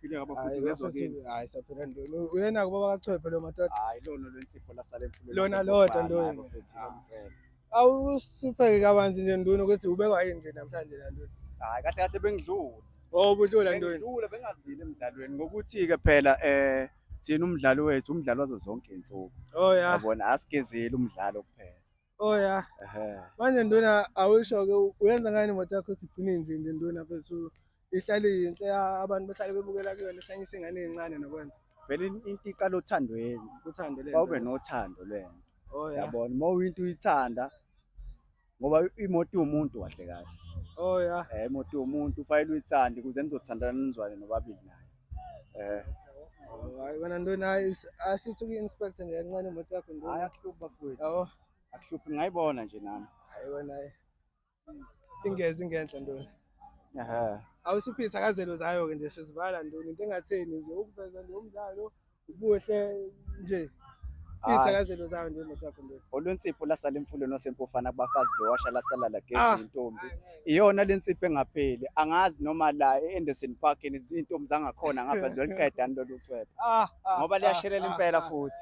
Phile ngaba futhi ngezwa kini. Hayi saphela ndini. Uyena kuba bakachwephe lo madoda. Hayi lona lensipho lasala emfuleni. Lona lodwa lona. Awusipheke kabanzi nje nduna ukuthi ubekwa yini nje namhlanje la nduna. Hayi kahle kahle bengidlula. Oh budlula nduna. Bengidlula bengazile emdlalweni ngokuthi ke phela eh thina umdlalo wethu umdlalo wazo zonke izinsuku. Oh yeah. Yabona asigezile umdlalo kuphela. Oh yeah. Ehe. Manje nduna awusho ke uyenza ngani imoto yakho sigcine nje nje nduna phezulu. Ihlale yinhle ya- abantu bahlale bebukela kuyona ihlanyisa ingane ezincane nokwenza. Vele in- into iqala othandweni. Uthando lento. Fawube nothando lwena. Oh yeah. Yabona uma uyinto uyithanda ngoba imoto yomuntu kahle kahle. Oh yeah. Eh imoto yomuntu ufanele uyithande kuze nizothandana nizwane nobabili nayo. Eh. Hayi wena nduna asithi uku-inspect nje kancane imoto yakho nduna. Hayi akuhluphi bafowethu. Yabo. Akuhluphi ngayibona nje nami. Hayi wena. Ingezi ingenhla nduna. Ehe. Awusiphitha kazelo zayo ke nje sizivala nduna into engatheni nje ukuveza nje umdlalo. Ubuhle nje. Izithakazelo zayo nje moto yakho nje. Olwensipho lasala emfuleni osempofana kubafazi bewasha lasala la gezi ah. intombi. Iyona lensipho engapheli. Angazi noma la eAnderson Park izintombi zangakhona ngapha ziyoliqeda lolu cwebe. Ah, ah, Ngoba liyashelela impela futhi.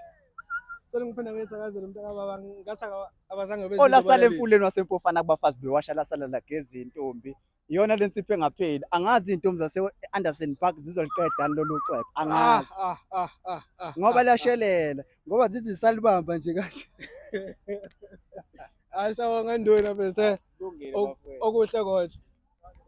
Sele ngiphinde ngezithakazelo mntaka baba ngathi abazange benze. Olasala emfuleni wasempofana kubafazi bewasha lasala la gezi intombi. iyona le nsipho engapheli angazi iy'ntombi zase-anderson park zizoliqedani lolu cwebe Ah, angazi ah, ah, ah, ah, ngoba ah, lashelela ngoba zithi zisalibamba nje kanje ah. Hayi sawonga nduna bese Kulungile, Ok- bafowethu. okuhle kodwa.